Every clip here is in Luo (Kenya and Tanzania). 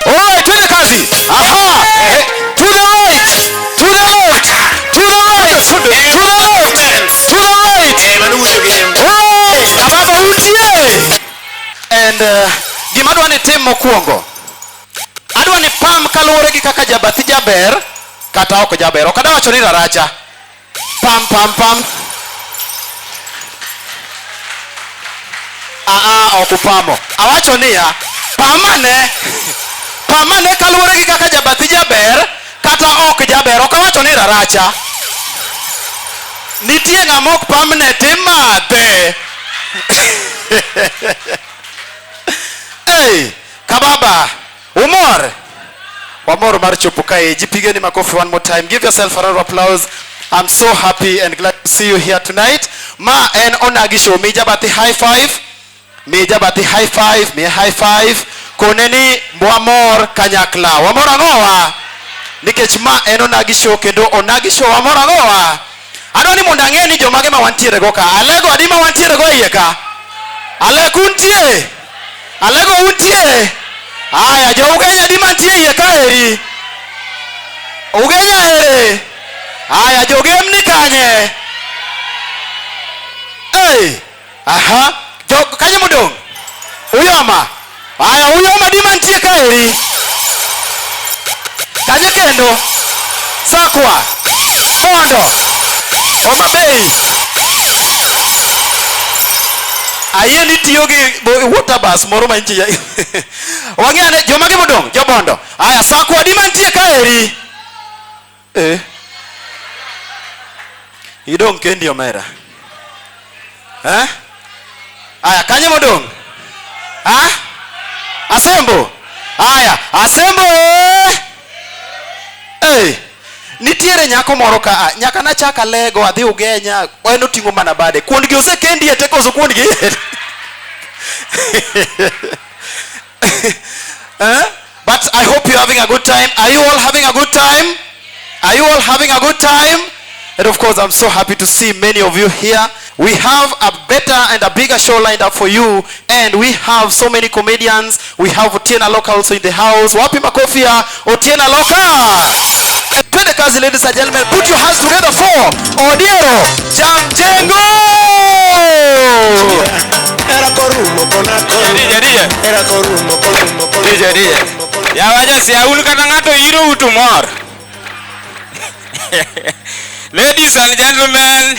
Alright, twende kazi. Aha. Eh, To the right. To the left. To the right. To the left. To the right. Hey, ababa utie. And uh, gima adwa ni tim mokwongo. Adwa ni pam kaluwore gi kaka jabathi jaber kata ok jaber. Ok adawacho ni raracha. Pam pam pam. Ah ah, ok upamo. Awacho niya, pamane. Pamane kaluwore gi kaka jabathi jaber kata ok jaber. Ok awacho ni raracha. Nitie ng'ama ok pamne timadhe. hey, kababa. Umor? Wamor mar chopo kae. Jipigeni makofi one more time. Give yourself a round of applause. I'm so happy and glad to see you here tonight. Ma en Onagi Show. Mi jabati high five. Mi jabati high five. Mi high five. Koneni wamor kanyakla. Wamor ang'owa. Nikech ma en Onagi Show kendo Onagi Show wamor ang'owa. Adwa ni mondo ang'e ni jomage ma wantiere go ka. Alego adi ma wantiere go e iye ka? Ale kuntie? Alego untie? Aya, jo Ugenya di mantie iye ka eri. Ugenya ere. Aya, jo gem ni kanye. Hey. Aha. Jo kanye mudong? Uyoma. Aya, uyoma di mantie ka eri. Kanye kendo. Sakwa. Mondo. Homa Bay. ayie ni tiyo gi water bus moro ma inchi wang'e ane joma gi modong' jobondo aya sakwa di mantie ka eri eh idong' kendi omera eh aya kanye modong' ah asembo aya asembo eh hey. Nitiere nyako moro ka a, nyaka nachak alego adhi Ugenya, en oting'o mana bade. Kuondgi osekendi e teko kuondgi. Eh? But I hope you're having a good time. Are you all having a good time? Are you all having a good time? And of course, I'm so happy to see many of you here. We have a better and a bigger show lined up for you and we have so many comedians. We have Otiena Loka also in the house. Wapi makofi ya Otiena Loka? Twende kazi ladies and gentlemen. Put your hands together for Odiero Jamjengo. Era korumo kona korumo. DJ, DJ. Era korumo korumo korumo. DJ, DJ. Yawaja si aulu kata ng'ato iro utu mor. Ladies and gentlemen,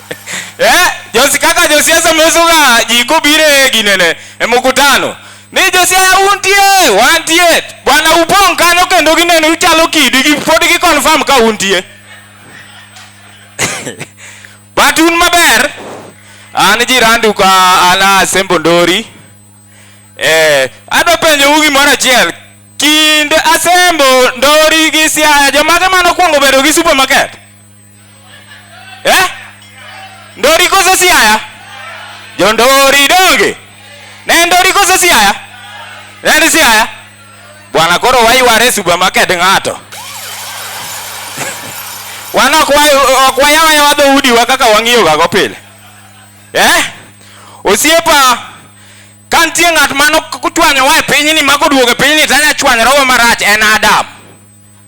eh, Josi kaka josiasa mesoga ji kobiro e ginene e mkutano ni josiaya untie wantie bwana upong' kanyo kendo gineno uchalo kidi gi pod gi confirm ka untie but un maber an jirandu ka an a Sembo Ndori eh, adwa penjou gimoro achiel kind Asembo Ndori gi Siaya jomage mane okuongo bedo gi supermarket eh? ndori koso siaya jondori donge ne ndori koso siaya ne ni siaya bwana koro wayware supermarket ng'ato wan ok wa- ok wayawayawa dhoudiwa kaka wang'iyogago pile eh? osiepa ka nitie ng'at mano chwanyowa e pinyni ma koduogo e pinyni tanya chwanyrogo marach en adam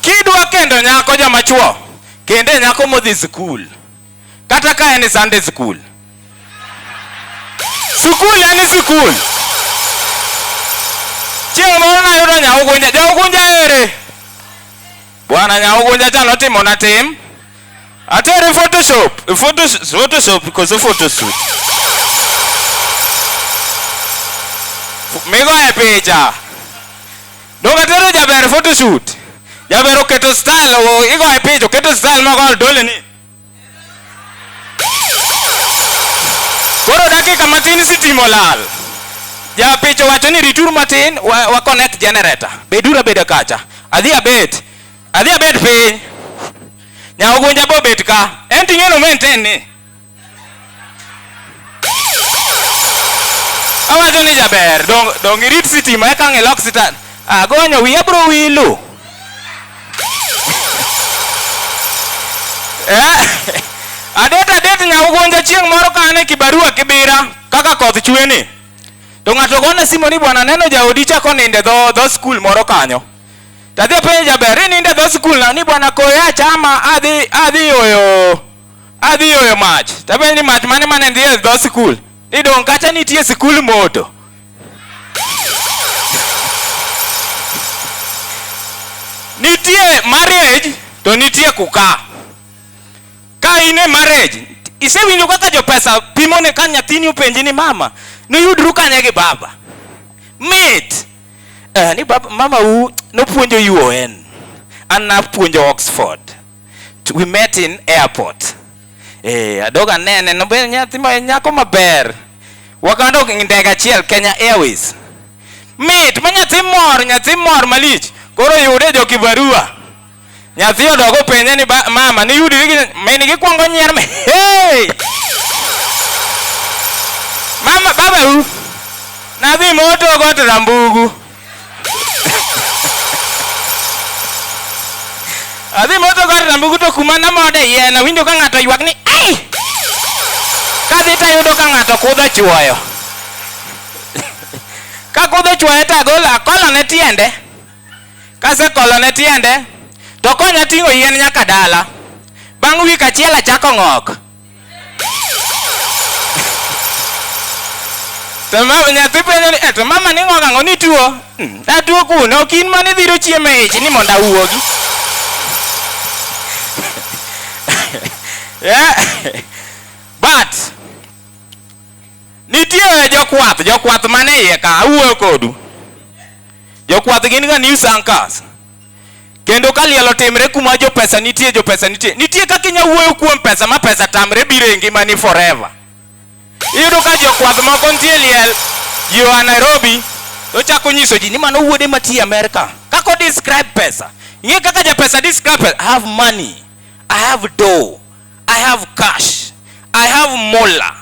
kidwa kendo nyako joma chuo kende nyako modhi skul kata ka en sunday skul skul en skul chieng' moro nayudo nyaugunja jaugunja ere bwana nyaugunja cha notimona tim Ate eri photoshop, photoshop, photoshop because of photo shoot. Migo e picha. Doka tero jaber photo shoot. Jaber oketo style, o- igo e picha, oketo style ma kol dole ni. Koro dakika matin sitimo lal. Ja picha wacho ni ritur matin wa, wa connect generator. Bedura beda kacha. Adhi abet. Adhi abet piny. Nya ogunja bo bet ka. En tinyo no maintain ni. Awacho ni jaber, dong dong irit sitima eka ng'ilok sitan. Agonyo wiya bro wilu. Eh, adet adet nya ugonja chieng' moro ka an e kibarua Kibira kaka koth chwe ni to ng'ato gona simu ni bwana neno jaodi chako ninde dho dho skul moro kanyo To adhi apenjo jaber, inindo e dho sikulna ni bwana koyo achama adhi adhi yoyo adhi yoyo mach. To apenjo ni mach mane mane ndhi e dho sikul? Ni dong' kacha nitie sikul moto. Nitie marriage to nitie kuka. Ka in e marriage, isewinjo kaka jopesa pimo ne ka nyathini openji ni mama, niyudru kanye gi baba? Mit! eh, ni bab, mama u nopuonjo UN an napuonjo Oxford To we met in airport eh, adog anene nobe nyathi ma nyako maber wakadok e ndege achiel Kenya Airways mit ma nyathi mor nyathi mor malich koro yude jo kibarua Nyathi odog openje ni "Ba- mama niyudri gi min gikwongo nyier me. Hey! Mama baba u. Nadhi moto got rambugu. Adhi moto got rambugu to kuma namode yien awinjo ka ng'ato ywak ni ai. Kadhi to ayudo ka ng'ato kudho chuoyo. Ka kudho chuoyo to agolo akolone tiende. Kasekolone tiende to okonya ting'o yien nyaka dala. Bang' wik achiel achako ng'ok. To mama nyathi penjo ni, "Eh, to mama ni ng'ok ang'o ni tuo? "Mm, Atuo kuno, ok in mane dhiro chiemo e ich ni mondo awuogi. Yeah. But nitie jokwath, jokwath mane iye ka awuoyo kodu. Jokwath gin ga news anchors. Kendo ka liel otimre kuma jo pesa nitie, jo pesa nitie. Nitie kaka inya wuoyo kuom pesa ma pesa tamre biro e ngimani forever. Iyudo ka jokwath moko nitie liel ji oa Nairobi to chako nyiso ji ni mano wuode matiye Amerka. Kaka o describe pesa. Ing'e kaka ja pesa describe pesa. I have money. I have dough. I have cash. I have mola.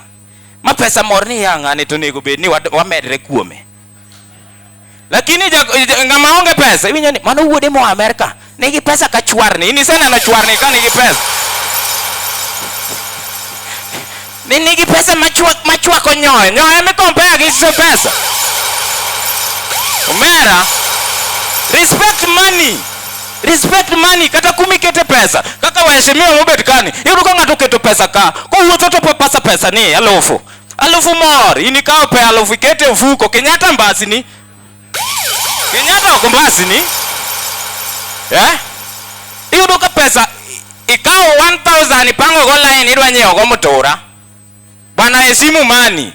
Ma pesa mor ni yang'ani to onego bed ni wad- wamedre kuome. lakini ng'ama onge pesa iwinjo ni mano wuode moa Amerika nigi pesa ka chwarni in iseneno chwarni ka nigi pesa ni nigi pesa machwako nyoyo nyoyo mikompea gi so pesa omera respect money respect money kata kumikete pesa kaka waheshimiwa mobet kani iyudo ka ng'ato oketo pesa ka kowuotho to pasa pesa ni alufu alufu mor in ikawo pe alufu ikete ofuko kenyatta mbasini kenyatta ok mbasini eh? iyudo ka pesa i- ikawo 1000 ipangogo line idwa nyiewogo mutura bana e simu mani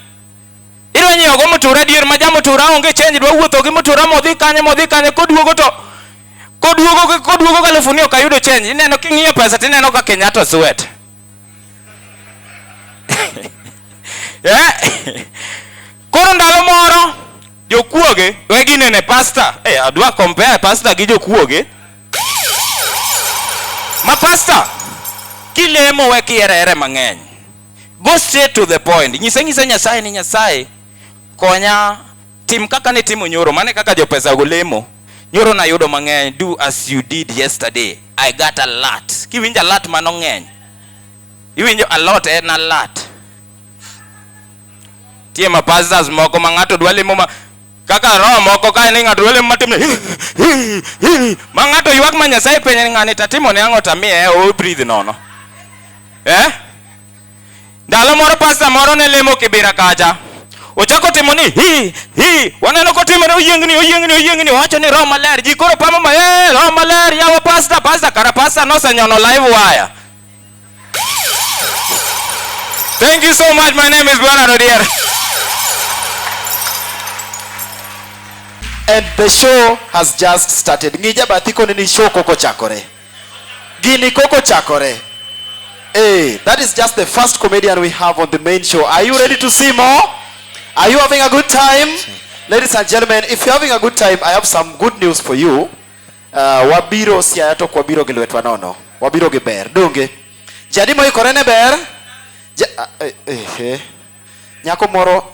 idwa nyiewogo mutura adier ma jamutura onge chenji dwa wuotho gi mutura modhi kanye modhi kanye koduogo to koduogo koduogo galufu ni ok ayudo chenji ineno king'iyo pesa tineno ka kenyatta swet yeah. koro ndalo moro jokuoge we ginene pasta hey, eh, adwa compare pasta gi jokuoge ma pasta kilemo we kierere mang'eny go straight to the point nyise nyise nyasaye ni nyasaye konya Tim kaka nitimo nyoro, mano e kaka jopesago lemo. Nyoro nayudo mang'eny, do as you did yesterday, I got a lot. Kiwinjo a lot mano ng'eny. Iwinjo a lot en a lot. Tie ma pastors moko ma ng'ato dwa lemo ma kaka roho moko kae ni ng'ato dwa lemo matim ni ma ng'ato ywak ma Nyasaye penje ni ng'ani tatimo ne ang'o tamiye o breathe nono. Eh? Ndalo moro pasta moro ne lemo Kibira kacha. Ochako timo ni hi hi, waneno kotimore oyiengni oyiengni oyiengni, owacho ni roho maler, ji koro pamo ma eh, roho maler yawa pasta pasta, kara pasta nosenyono live wire. Thank you so much. My name is Bwana Rodier. And the show has just started. Ngija bathiko nini show koko chakore. Gini koko chakore. Hey, that is just the first comedian we have on the main show. Are you ready to see more? Are you having a good time? Ladies and gentlemen, if you're having a good time, I have some good news for you. Uh, wabiro siaya to kwabiro gi lwetwa nono. Wabiro gi ber. Donge. Jadi moikore ne ber? Ja, uh, eh, eh, eh. Nyako moro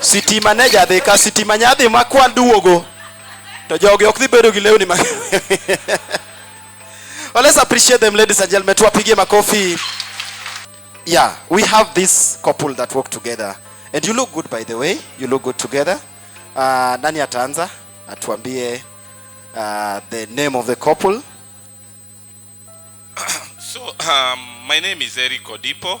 Sitima ne jadhi ka sitima nyadhi ma kwan duogo. To jogi ok dhi bedo gi lewni ma Well, let's appreciate them, ladies and gentlemen. Tuwapigie makofi. Yeah, we have this couple that work together. And you look good by the way. You look good together. Uh, nani ataanza? Atuambie uh, the name of the couple. So, um, my name is Eric Odipo.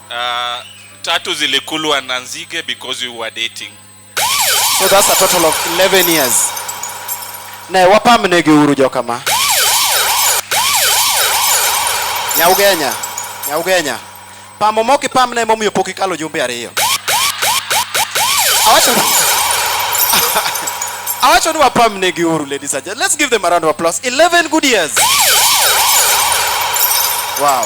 Uh, tatu zilikulwa na nzige because you were dating. So that's a total of 11 years. Ne wapamne gi uru jokama. Nyaugenya, Nyaugenya. Pamo moki pamne momiyo pok ikalo jumbe ariyo. Awacho Awacho ni wapamne gi uru ladies and gentlemen. Let's give them a round of applause. 11 good years. Wow.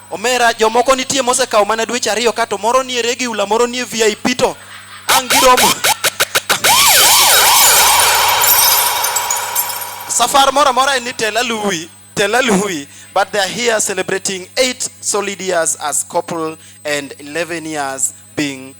Omera jomoko nitie mosekawo mana dweche ariyo ka to moro nie regular, moro nie VIP to ang' giromo. Safar moro amora en ni tel aluwi, tel aluwi, but they are here celebrating 8 solid years as couple and 11 years being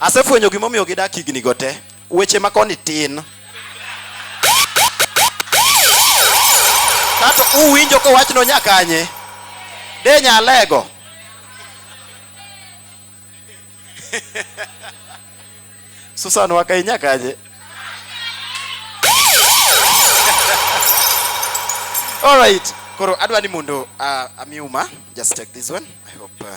Asefwenyo gima omiyo gidak higni go te. Weche ma koni tin. Kato uwinjo ko wach no nyakanye. De nyalego. Susan waka inyakanye. All right. Koro adwa ni mondo uh, amiuma just take this one. I hope uh,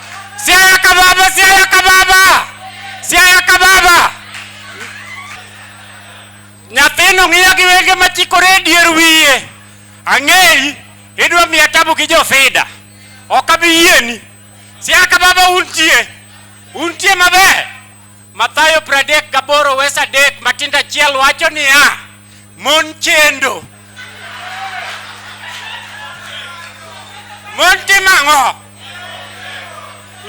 Siaya Kababa, Siaya Kababa, Siaya Kababa. Nyathino ng'iya gi wenge machikore e dier wiye. Ang'eyi, idwa miya tabu gi jofida. Ok abi yieni. Siaya Kababa untie. Untie maber. Mathayo 38 wes 3 matindo achiel wacho niya, mon chendo. Mon timo ang'o?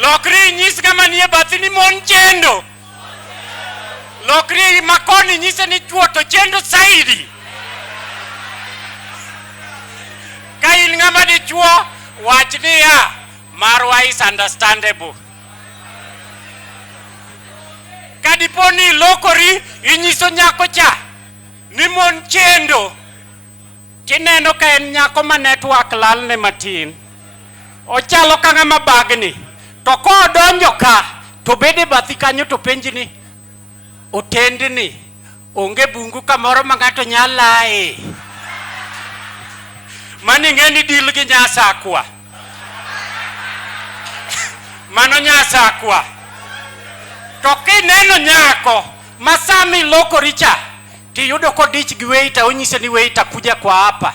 Lokri inyis ng'ama nie bathi ni mon chendo. Lokri makoni inyise ni chwo to chendo saidi. Ka in ng'ama dichwo, wach niya, marwa is understandable. kadipo ni ilokori inyiso nyako cha ni mon chendo tineno ka en nyako ma network lalne matin ochalo ka ng'ama bagni to kodonjo ka to bede bathi kanyo to penji ni otendni Onge bungu kamoro ma ng'ato nyalae. Mani ng'e ni deal gi nyasakwa. Mano nyasakwa. To kineno nyako ma sama ilokori cha tiyudo kodich gi waiter onyise ni waiter kuja kwa hapa.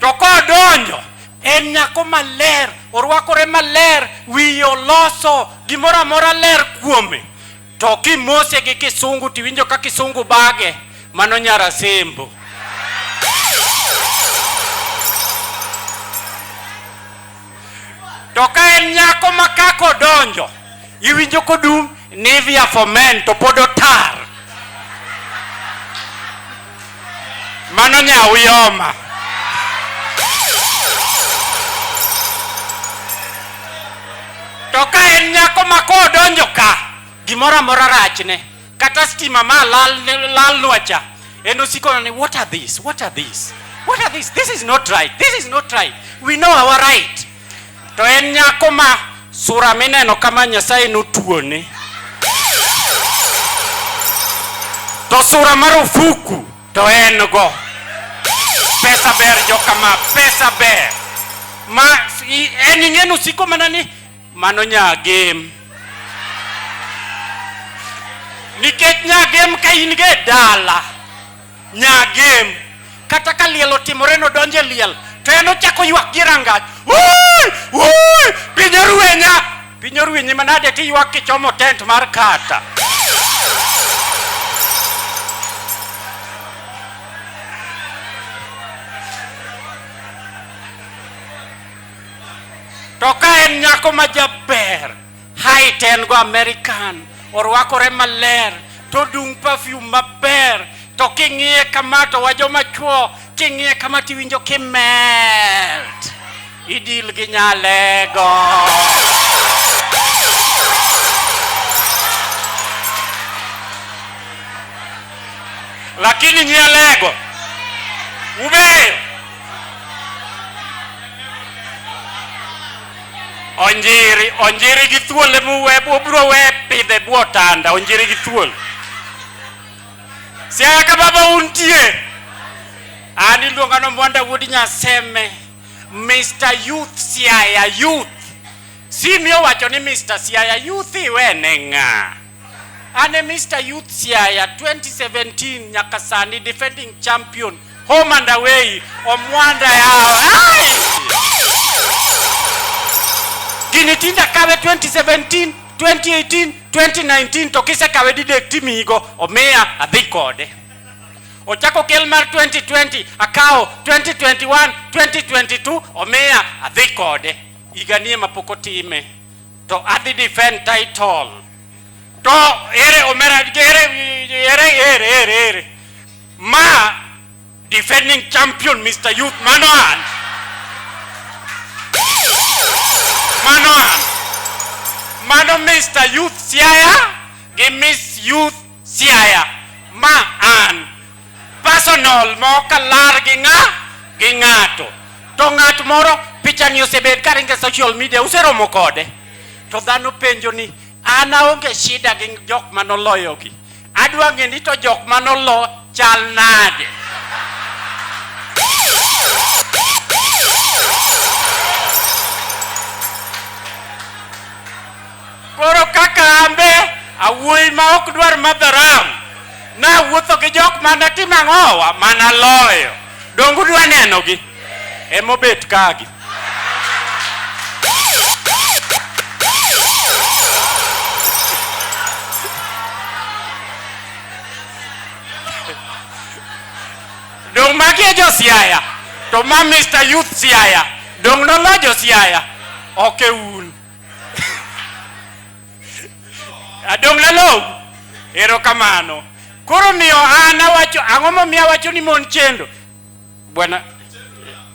To kodonjo en nyako maler, orwakore maler, wiye oloso, gimoro amora ler kuome. To kimose gi kisungu tiwinjo ka kisungu bage, mano nyara sembo. To ka en nyako ma kaka odonjo, iwinjo kodum Nivea for men to pod otar. Mano nyawu yoma. To ka en nyako ma kodonjo ka, gimoro amora rachne. kata stima ma lal lalnwa cha en osiko ni what are this what are this what are this this is not right this is not right we know our right to en nyako ma sura mineno kama nyasaye notuone to sura marufuku to en go pesa ber jokama pesa ber ma i- en ing'eni usiko mana ni Mano nyagem. Nikech nyagem ka in ge dala, nyagem kata ka liel otimore no donje liel to en ochako ywak gi rangach. Wuoi! Wuoi! Piny orwenya! Piny orwenyi manade ti ywak kichomo tent mar kata. to ka en nyako ma jaber height en go american orwakore maler to dung perfume maber to king'iye kama to wajo machuo king'iye kama tiwinjo kimelt idil gi nyalego lakini nyalego ubeyo Onjiri, onjiri gi thuol ema uwe, ubiro we pidhe e bwo tanda, onjiri gi thuol. Siaya ka baba untie. An iluonga ni Mwanda Wuod Nyaseme, Mr. Youth Siaya Youth. Simi owacho ni Mr. Siaya Youth iwene ng'a? An e Mr. Youth Siaya 2017 nyaka sani defending champion Home and away, omwanda yawa. Ai! Gini tinda kawe 2017, 2018, 2019 to kise kawe didek timigo omiya adhi kode. Ochako kel mar 2020 akawo 2021, 2022 omiya adhi kode. Higa nie mapok otime to adhi defend title. To ere omera ere ere ere ere ere Ma defending champion Mr. Youth mano an. Mano an. Mano Mr. Youth Siaya gi Miss Youth Siaya. Ma an. Personal mok alar gi ng'a gi ng'ato. To ng'at moro pichani osebed ka ringo e social media useromo kode. To dhano penjo ni an aonge shida gi jok manoloyogi. Adwa ng'e ni to jok ma nolo chal nade. Koro kaka ambe awuoyi ma ok dwar madho ram, nawuotho gi jok mane timo ang'owa, mana loyo. Donge udwa nenogi? emobet kagi dong magi e josiaya to ma mr youth siaya dong nolo josiaya ok e un adong lalou erokamano koro miyo an awacho ang'o momiyo awacho ni mon chendo Bwana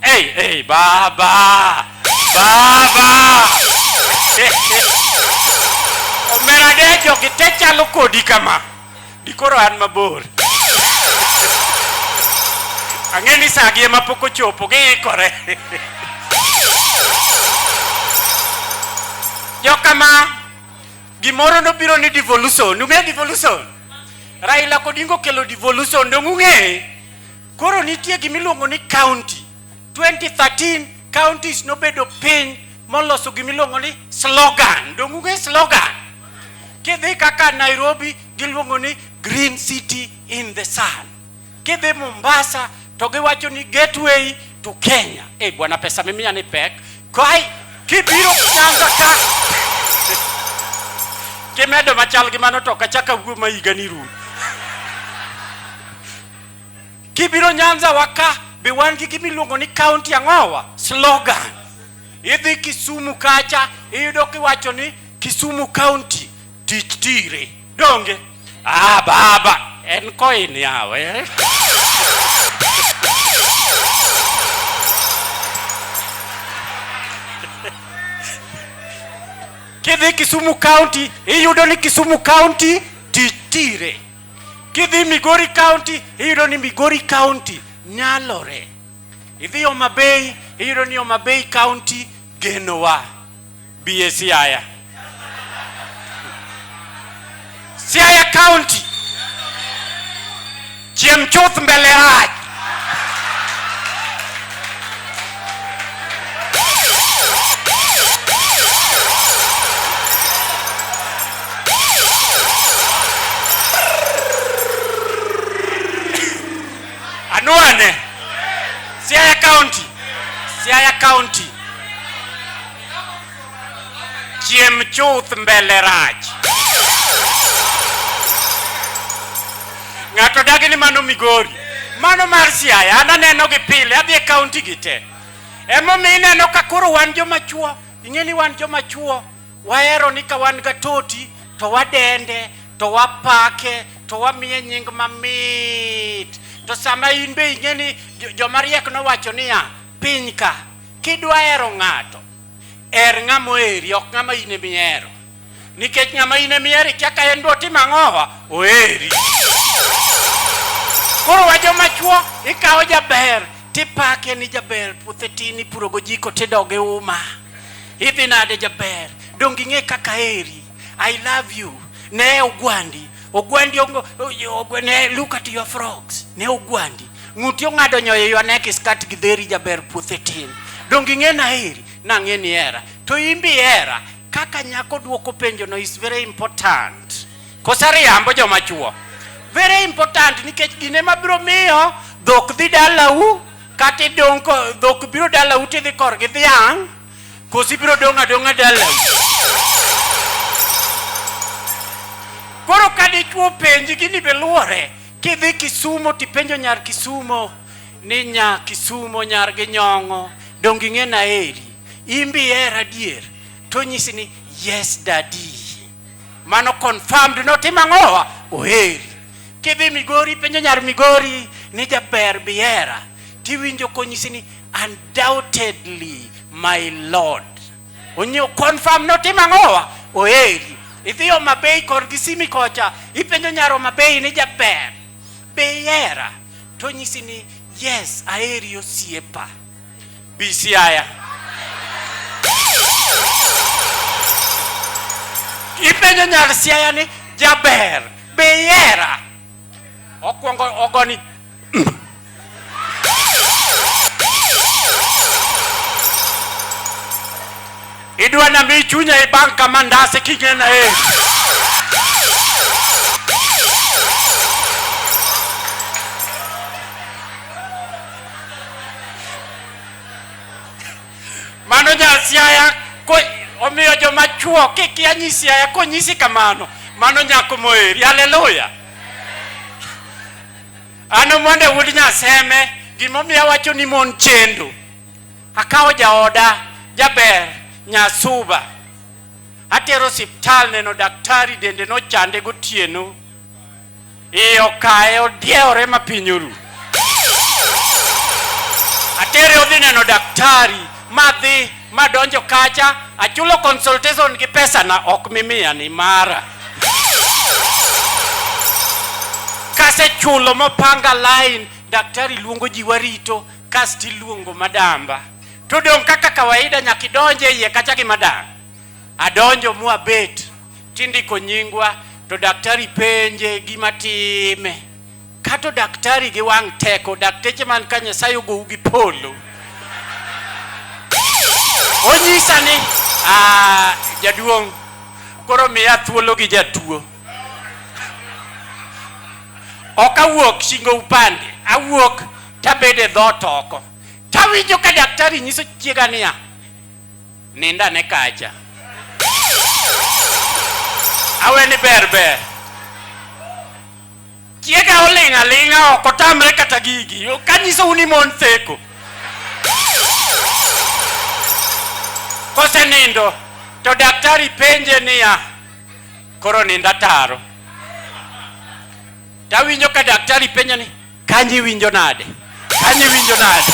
hey, hey, baba baba omera dejo gite chalo kodi kama dikoro an mabor ang'e ni sagi ema pok ochopo giikore jokama gimoro nobiro ni devolution ung'e devolution raila kodingo kelo devolution dong ung'e Koro nitie gima iluongo ni county. 2013 counties nobedo piny moloso gima iluongo ni slogan. Donge ung'e slogan? Kidhi kaka Nairobi giluongo ni green city in the sun. Kidhi Mombasa to giwacho ni gateway to Kenya. Eh, bwana pesa mimiya ni pek. Kai kibiro Nyanza ka kimedo machal gi mano to ok achak awuo ma higa ni rum. Kibiro Nyanza wa ka be wan gi gima iluongo ni county ang'owa slogan. Idhi Kisumu kacha iyudo kiwacho ni Kisumu county tich tire. Donge? Ah baba en koin yawe. Kidhi Kisumu county iyudo ni Kisumu county tich tire. Kidhi Migori County iyudo ni Migori County nyalore. Idhi Homa Bay iyudo ni Homa Bay County genowa. Bi e Siaya. Siaya County chiem chuth mbele rach. Anwane Siaya County, Siaya County. chiem chuth mbele rach. Ng'ato dagi ni mano Migori, mano mar Siaya, an aneno gi pile, adhi e kaunti gi te. Emomiyo ineno ka koro wan joma chuo, ing'e ni wan joma chuo, wahero ni ka wan ga toti to wadende, to wapake, to wamiye nying mamit. To sama in be ing'e ni joma riek nowacho niya, piny ka, kidwa hero ng'ato, Her ng'ama oheri, ok ng'ama in ema ihero. Nikech ng'ama in ema ihero ikia ka en be otim ang'owa, oheri. Koro wa joma chuo ikawo jaber tipake ni jaber, puothe tin ipuro gojiko tidoge uma. Idhi nade jaber, donge ing'e kaka aheri? I love you. Ne ogwandi. Ogwandi ongo, ogwandi, ne look at your frogs. Ne ogwandi. Ng'uti ong'ado nyoyo your neck is cut gi dheri jaber puothe tin. Donge ing'e na heri? Na ng'e ni era. To imbi era. Kaka nyako duoko penjo no is very important. Kosa riambo joma chuo. Very important nikech gine mabiro miyo dhok dhi dalau kata idong' dhok biro dalau tidhi korgi dhiang' Kosi biro dong' adong'a dalau. Koro ka dichwo penji gini be luore, kidhi Kisumo tipenjo nyar Kisumo ni nya Kisumo nyar gi nyong'o donge ing'e na eri imbi era dier to nyisi ni yes daddy mano confirmed no timo ang'owa oheri kidhi Migori penjo nyar Migori ni jaber biera tiwinjo konyisi ni undoubtedly my lord onyo confirm notim ang'owa oeri idhi Homa Bay kor Kisimi kocha ipenjo nyar Homa Bay ni jaber be ihera to nyisi ni yes aheri osiepa bi Siaya ipenjo nyar Siaya ni jaber be ihera Okwongo ogoni. Idwa na mi chunya e bank kama ndase kingena e. Mano nyasiaya ko omiyo joma chuo kikia nyisiaya konyisi kamano mano nyako moheri haleluya an omonde wuod nyaseme gimomiyo awacho ni mon chendo akawo jaoda jaber nyasuba atero siptal neno daktari dende nochande gotieno iye okaye odiewore ma piny oru. Atere odhi neno daktari madhi madonjo kacha achulo consultation gi pesa na ok mimiya ni mara kasechulo mopanga line daktari luongo ji warito kasto iluongo madamba to dong' kaka kawaida nyaka idonje iye kacha gi madam adonjo mwabet tindiko nyingwa to daktari penje gima time kato daktari gi wang' teko dakteche man ka nyasaye ogou gi polo onyisa ni ah, jaduong' koro miya thuolo gi jatuo ok awuok shingo upande awuok tabede dhot oko tawinjo ka daktari nyiso chiega niya Nind ane kacha. Awe ni ber ber. Chiega oling' aling'a ok otamre kata gigi. Kanyisou ni mon theko. Kosenindo to daktari penje niya, koro nind ataro. Tawinjo ka daktari penje ni, Kanyi winjo nade? Kanyi winjo nade?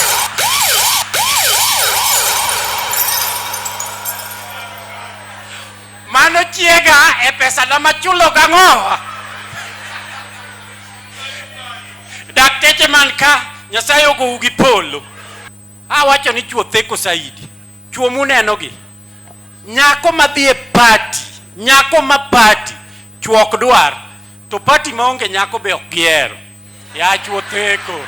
Mano chiega e pesa na machulo gang'o? Dakteche man ka Nyasaye ogou gi polo. Awacho ni chuo theko saidi. Chuo muneno gi. Nyako madhi e party, nyako ma party, chuo ok dwar. To pati maonge nyako be ok gihero. Yach wotheko.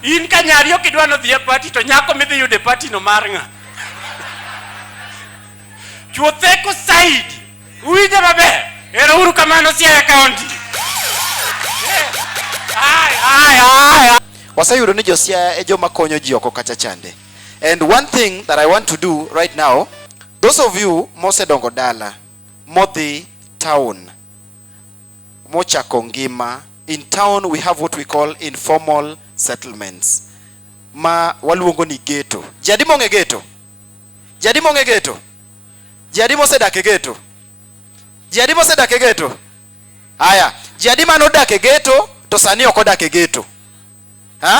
In ka nyari ok idwa nodhi e pati to nyako midhi yudo e pati no mar ng'a? Chuotheko saidi. Uwinjo maber? Ero uru kamano Siaya County. Ai, ai, ai, ai. waseyudo ni josiaya e joma konyo ji oko kacha chande and one thing that i want to do right now Those of you mosedongo dala modhi town mochako ngima in town we have what we call informal settlements ma waluongo ni ghetto. Jadi mong'e ghetto? Jadi mong'e ghetto? Jadi mosedak e ghetto? Jadi mosedak e ghetto? Haya, jadi mano odak e ghetto to sani ok odak e ghetto. Ha?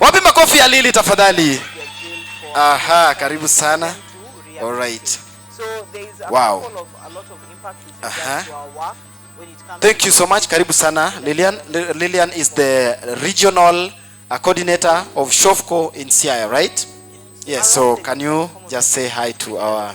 Wapi makofi ya Lili tafadhali? Aha, karibu sana. All right. Wow. Aha. Thank you so much. Karibu sana. Lilian, Lilian is the regional uh, coordinator of Shofco in Siaya, right? Yes, so can you just say hi to our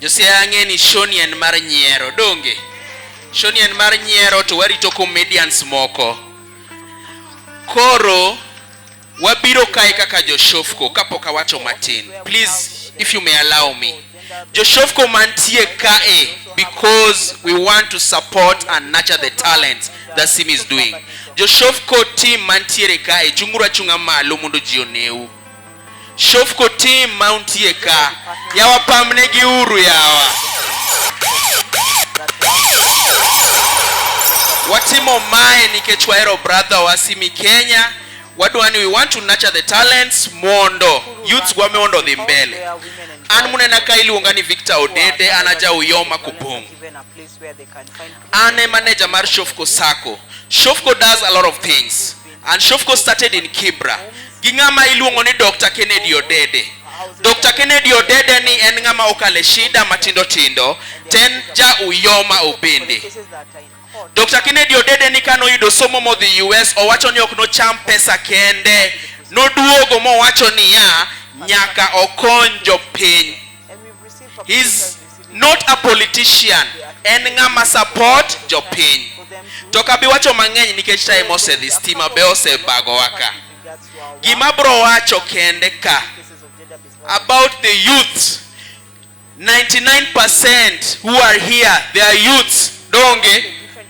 Josiaya ang'e ni shoni en mar nyiero donge shoni en mar nyiero to warito comedians moko koro wabiro kae kaka joshofko kapok awacho matin please if you may allow me joshofko mantie kae because we want to support and nurture the talent that sim is doing joshofko team mantiere kae chunguru achunga malo mondo ji oneu Shofco team ma untie ka, yawa pamnegi uru yawa. Watimo mae nikech wahero brother wa Simi Kenya, wadwa ni we want to nurture the talents mondo youths gwa mondo odhi mbele. An munena ka iluonga ni Victor Odede, an aja Uyoma Kupong'. An e manager mar Shofco Sacco. Shofco does a lot of things. And Shofco started in Kibra gi ng'ama iluongo ni Dr. Kennedy Odede. Dr. Kennedy Odede ni en ng'ama okale shida matindo tindo, to en ja Uyoma Obende. Dr. Kennedy Odede ni kano yudo somo modhi US, owacho ni ok nocham pesa kende, noduogo mowacho niya nyaka okony jopiny. His not a politician en ng'ama support jopiny to ok abi wacho mang'eny nikech time osedhi stima be osebagowa ka gima bro wacho kende ka about the youth 99% who are here they are youths donge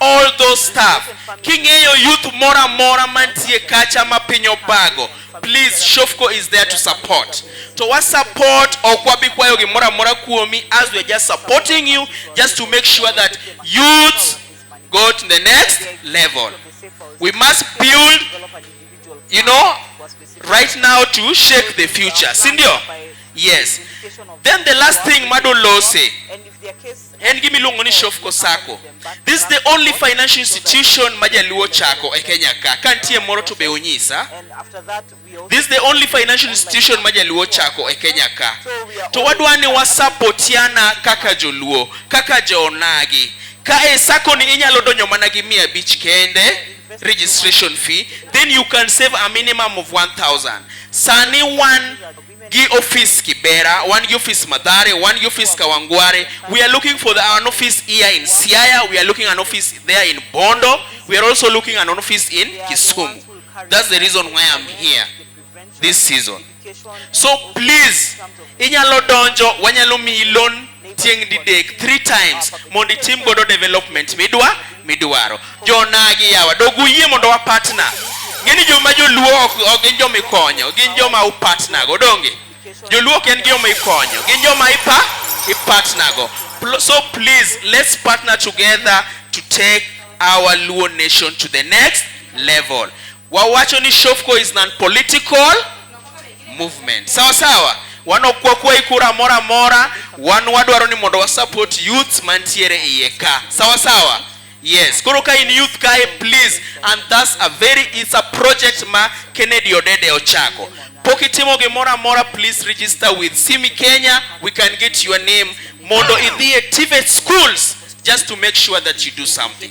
all those stuff king'eyo youth moro amora mantie kacha ma piny obago please shofco is there to support to wa support ok wabi kwayo gimoro amora kuomi as we are just supporting you just to make sure that youth go to the next level we must build you know right now to shake the future sindio yes then the last thing madolose En gima iluongo ni Shofco Sacco. This is the only financial institution ma Jaluo chako e Kenya ka. Ka nitie moro to be unyisa. This is the only financial institution ma Jaluo chako e Kenya ka. To wadwa ni wasapotiana kaka Joluo, kaka Jonagi. Ka e sacco ni inyalo donjo mana gi mia abich kende registration fee, then you can save a minimum of 1000. Sani wan gi office Kibera, wan gi office Mathare, wan gi office Kawangware. We are looking for the, an office here in Siaya, we are looking an office there in Bondo, we are also looking an office in Kisumu. That's the reason why I'm here this season. So please, inyalo donjo, wanyalo miyi loan tieng' didek three times mondo itim godo development midwa midwaro jonagi yawa dog uyie mondo wa partner ng'eni joma joluo ok ok gin joma ikonyo gin joma u partner go donge joluo ok en joma ikonyo gin joma ipa i partner go Pl- so please let's partner together to take our luo nation to the next level wawacho ni shofco is non political movement sawa sawa wanokuwa kuwa ikura moro amora wan wadwaro ni mondo wasupport youth mantiere iye ka sawa sawa yes koro ka in youth kae please and thus a very it's a project ma kennedy odede ochako pok itimo gimoro amora please register with simi kenya we can get your name mondo idhi e tivet schools just to make sure that you do something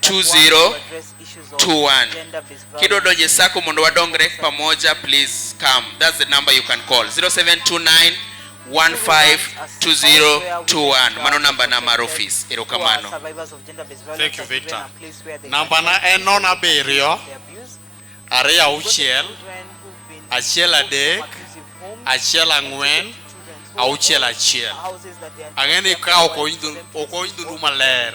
2021 kido donje sako mondo wadongre pamoja please come that's the number you can call 0729 152021 mano namba na mar ofis erokamano Thank you, Victor. Namba na en non abiriyo, ariyo auchiel, achiel adek, achiel ang'wen, auchiel achiel. Ang'e ni ka ok owinjo ok owinjo du maler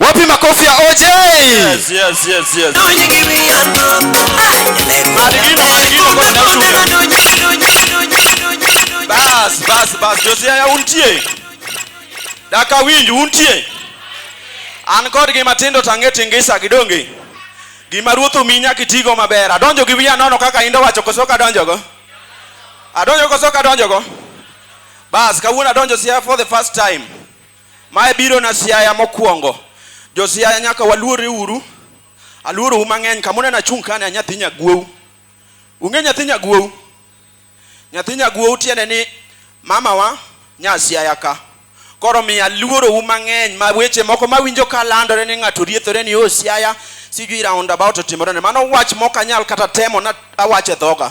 Wapi makofi ya OJ? Yes, yes, yes, yes. Bas, bas, bas. Josia ya untie. Daka winji untie. An kod gi matindo tange tingisa gidonge. Gima ruoth omi nyaka itigo maber. Adonjo gi wiya nono kaka indo wacho koso ka donjogo. Adonjo koso ka donjogo. Bas, kawuono adonjo sia for the first time. Mae biro na Siaya mokwongo. Jo Siaya nyaka waluore uru. Aluoro u mang'eny kama uneno achung' kani a nyathi nyaguowu. Ung'e nyathi nyaguowu? Nyathi nyaguowu tiende ni mamawa nya Siaya ka. Koro omiyo aluoro u mang'eny ma weche moko mawinjo ka landore ni ng'ato riethore ni o Siaya sijui round about otimore ne. Mano wach mok anyal kata temo na awache dhoga.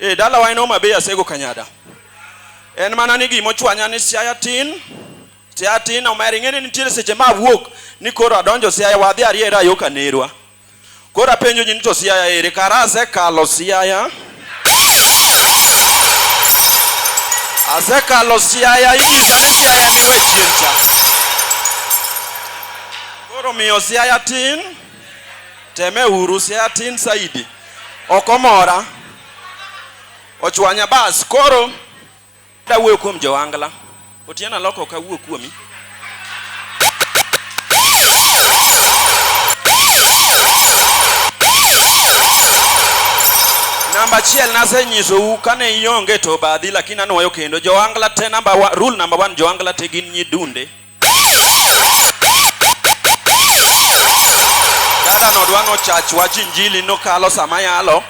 Eh, dalawa en Homa Bay Asego Kanyada. En mana ni gima ochwanya ni Siaya tin, Siaya tin omer ing'e ni nitiere seche ma awuok ni koro adonjo Siaya wadhi ariera yo Kanerwa. Koro apenjo ji ni to Siaya ere kara asekalo Siaya. Asekalo Siaya inyisa ni Siaya ni we chien cha. Koro miyo Siaya tin, teme uru Siaya tin saidi. ok omora ochwanya bas koro dawuoyo kuom joangla otieno aloko ok awuo kuomi namba achiel nasenyisou kane ionge to obadhi lakini anwoyo kendo joangla te namba wa, rule namba one joangla te gin nyidunde Dada no dwa nochach wach injili nokalo sama yalo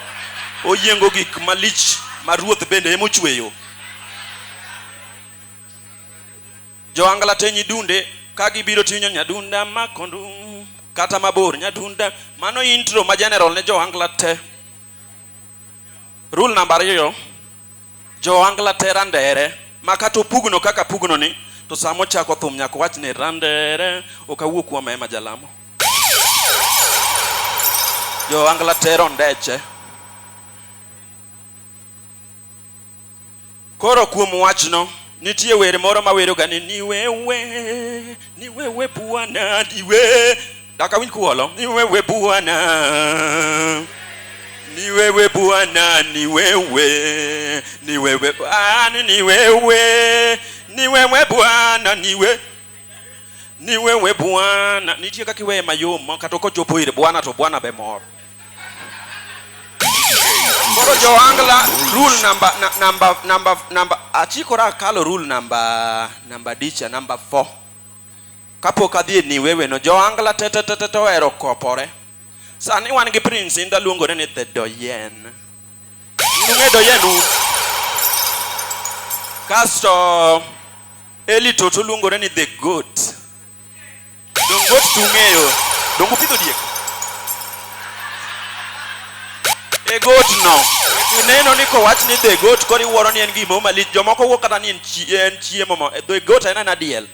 oyiengo gik malich ma ruoth bende emochweyo. Jo angla te nyidunde ka gibiro tinyo nyadunda makondum kata mabor nyadunda mano intro ma general ne jo angla te. Rule namba ariyo Joangla te randere ma kata opugno kaka apugno ni to sama ochako thum nyaka owach ni randere ok awuo kuom ema jalamo. Joangla te rondeche. Koro kuom wachno nitie wer moro maweroga ni niwewe niwewe bwana niwe Dak awinj kuwolo ni wewe Bwana, ni wewe Bwana, ni wewe, ni wewe Bwana, ni wewe, ni wewe Bwana, ni wewe ni wewe Bwana. Nitie kaka iweye mayom ma kata okochopo ire Bwana to Bwana be mor. Koro Joangla rule number na- number number number achikora kalo rule number number dicha number 4. Kapok adhi e niweweno, Joangla tetetete ohero kopore. Sani wan gi Prince Inda luongore ni The Doyen. Nung'e Doyen un. Kasto Eli Toto luongore ni The Goat. Dongo goat tung'eyo. Dongo pidho diek. The Goat no. Ineno ni kowach ni The Goat koro iwuoro ni en gimoro malich. Jomoko wuo kata ni en chiemo. The Goat en en adiel.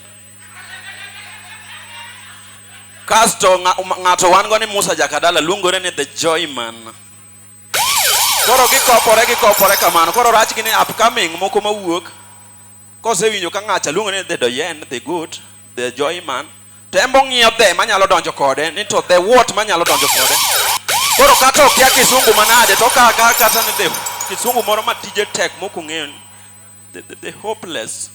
Kasto ng'ato wan go ni Musa Jakadala luongore ni The Joyman. Koro gikopore gikopore kamano. Koro rach gi ni upcoming moko mawuok kosewinjo ka ng'acha luongore ni The Doyen, The Goat, The Joyman. Tembo ng'iyo the manyalo donjo kode ni to the what manyalo donjo kode. Koro kata okia kisungu manade to kaka kata ni the kisungu moro matije tek mokong'eyo ni the, the, the hopeless.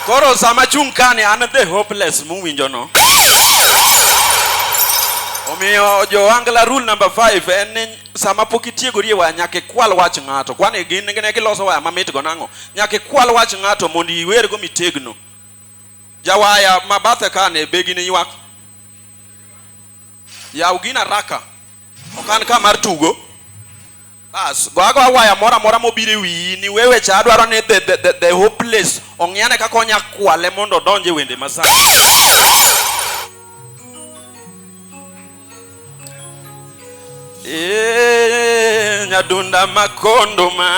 Koro sama chung' kani an the hopeless muwinjo no. Omiyo Joangla rule number 5 en ni sama pok itiegori e waya nyaka ikwal wach ng'ato. Kwani gin ne giloso waya mamit go nang'o? Nyaka ikwal wach ng'ato mondo iwergo mitegno. Jawaya ma bathe kani be gini ywak. Yaw gina raka. Ok an ka mar tugo. Bas, go ago awaya mora mora mobire wiyi ni wewe cha adwaro ni the, the, the, the hopeless ong'yane kaka onya kwale mondo odonje wende masani. Eh, nyadunda makondo ma.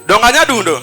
Donga nyadundo.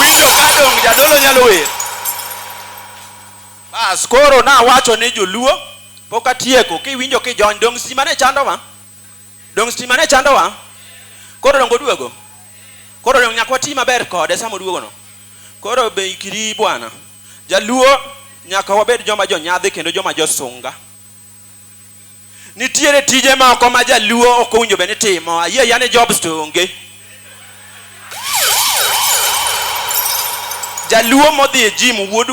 Winjo ka dongo jadolo nyalo wer. Bas koro nawacho ni joluo pok atieko kiwinjo kijony dong stima ne chandowa. Dong stima ne chandowa. Koro dongo duogo. Koro dongo nyakwa ti maber kode sama oduogo no. Koro be ikiri bwana. Jaluo nyaka wabed joma jonyadhi kendo joma josunga. Nitiere tije moko ma jaluo ok owinjo bed ni timo. Ayie ayia ni jobs to onge. Jaluo modhi e jim wuod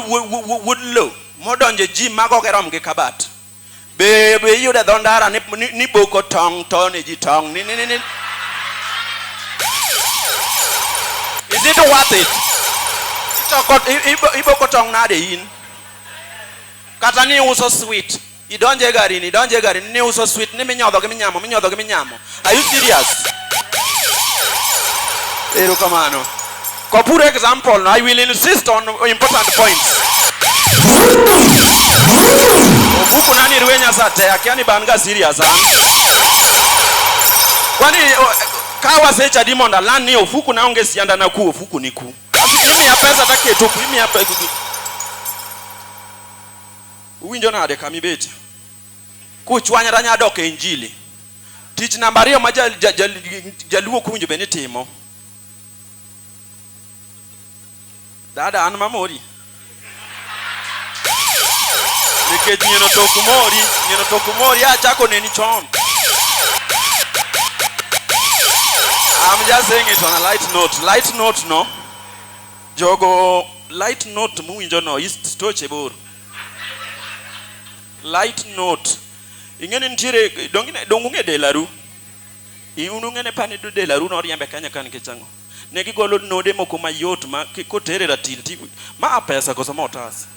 wuod lo modonjo e jim mago ok rom gi kabat. Be be iyudo e dho ndara ni, ni, ni boko tong' to ne ji tong' ni, ni, ni, ni. Is it worth it? Itoko, i- ibo- iboko tong' nade in? Kata ni uso sweet. Idonje e garini, idonje e garini, ni uso sweet, ni minyodho gi minyamo, minyodho gi minyamo. Are you serious? Ero kamano. Kwa pure example, no, I will insist on important points. Obuku nani ruwe nyasa te, akia ni banga serious, ha? Kwani, kawa secha dimonda, lani ofuku na unge sianda na ku, ofuku ni ku. Kapi imiya pesa to aketo ku, imiya pe- gi- gi- Uwinjo nade kama ibetie? Kuchwanyra nya dok e injili. Tich namba ariyo ma ja- ja- ja- jaluo ok owinjo bed ni timo. Dada an mamori. nikech nyieno to ok mori nyieno to ok mori achako neni chon I'm just saying it on a light note. Light note no. Jogo light note muwinjo no is stoche bor. Light note. Ing'eni nitiere donge donge delaru. Iunu ng'ene pani do delaru no riembe kanya kan kichang'o. Ne gigolo node moko mayot ma kotere ratil ti ma a pesa koso ma otas.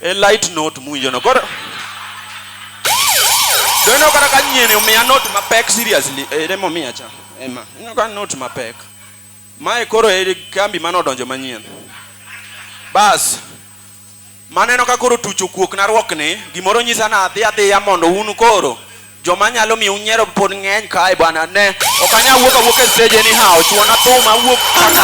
E light note muwinjo no. Koro to ineno kata ka nyieni omiya note mapek seriously ere momiya cha ema ineno ka note mapek mae koro e kambi mane odonjo manyien bas Maneno ka koro tuch okuok na ruok ni, gimoro nyisa na adhi adhiya mondo un koro joma nyalo miyo unyiero pod ng'eny kae bwana ne. Ok anya wuok awuok e stage anyhow, chuo na thum awuok kaka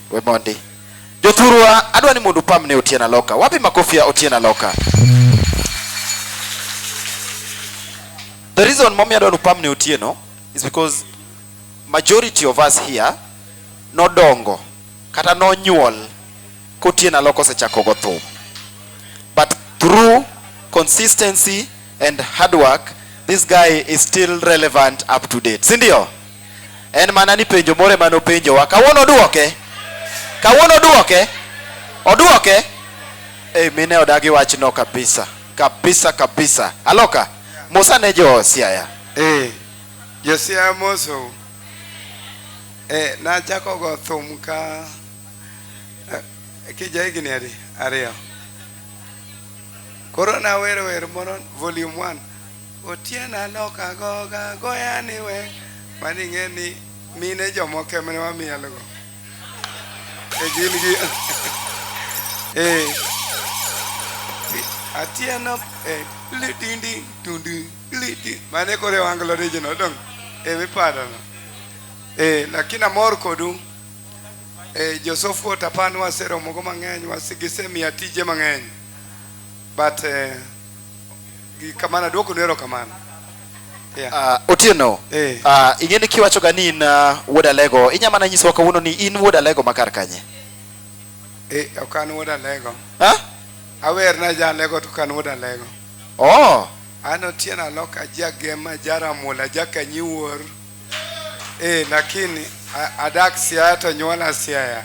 We mondi. Jothurwa, adwa ni mondo upam ne Otieno Aloka. Wapi makofi ya Otieno Aloka? The reason momiyo adwa ni upam ne Otieno is because majority of us here nodongo kata nonyuol kotieno aloko osechako go thum but through consistency and hard work this guy is still relevant up to date si ndio En mana ni penjo moro ema nopenjowa. Kawuono oduoke. Kawuono oduoke. Oduoke. Eh, mine odagi wachno kabisa. Kabisa kabisa. Aloka. Musa ne jo Siaya. Eh, Josia Amoso. Eh, nachako go thum ka eh, kija higni adi ariyo. Koro nawero wer moro volume 1 Otieno alok agoga goya ni we mani ing'e ni mine jomoko emane wamielgo e gin gi eh Atieno eh litindi tundi liti mane kore wanglo rijino dong eh mipadono eh lakini amor kodu eh Josofu Otapan waseromogo mang'eny wasigise miya tije mang'eny but eh, Gi kamano aduoko ni erokamano. Yeah. Ah, Otieno, Eh. ah, ing'e ni kiwachoga ni in ah, wuod Alego, inya mana nyisowa kawuono ni in wuod Alego ma kar kanye? Eh, ok an wuod Alego. Ha? Awer na ja Alego to ok an wuod Alego. Oh, An Otieno Alok ajagema jaramula jakanyiwuor. Eh, lakini a- adak Siaya to nyuola Siaya.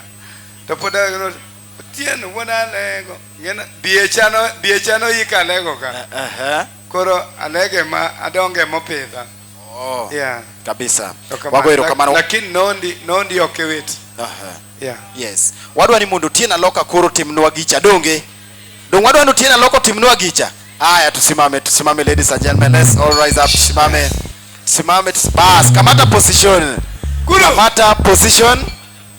To pod a- Otieno wuod Alego. Ng'ena biecha no biecha no yika Alego ka. Ehe. Koro Alego ema adonge mopidha. Oh, Yeah. kabisa. Erokamano. Wago erokamano. Lakini nondi nondi ok eweti. Aha. Yeah. Yes. Wadwa ni mondo Otieno Aloka koro timnwa gicha donge? Donge wadwa ni Otieno Aloka timnwa gicha? Haya tusimame, tusimame ladies and gentlemen. Let's all rise up. Tusimame. Tusimame. tusi- Bas, kamata position. Kamata position.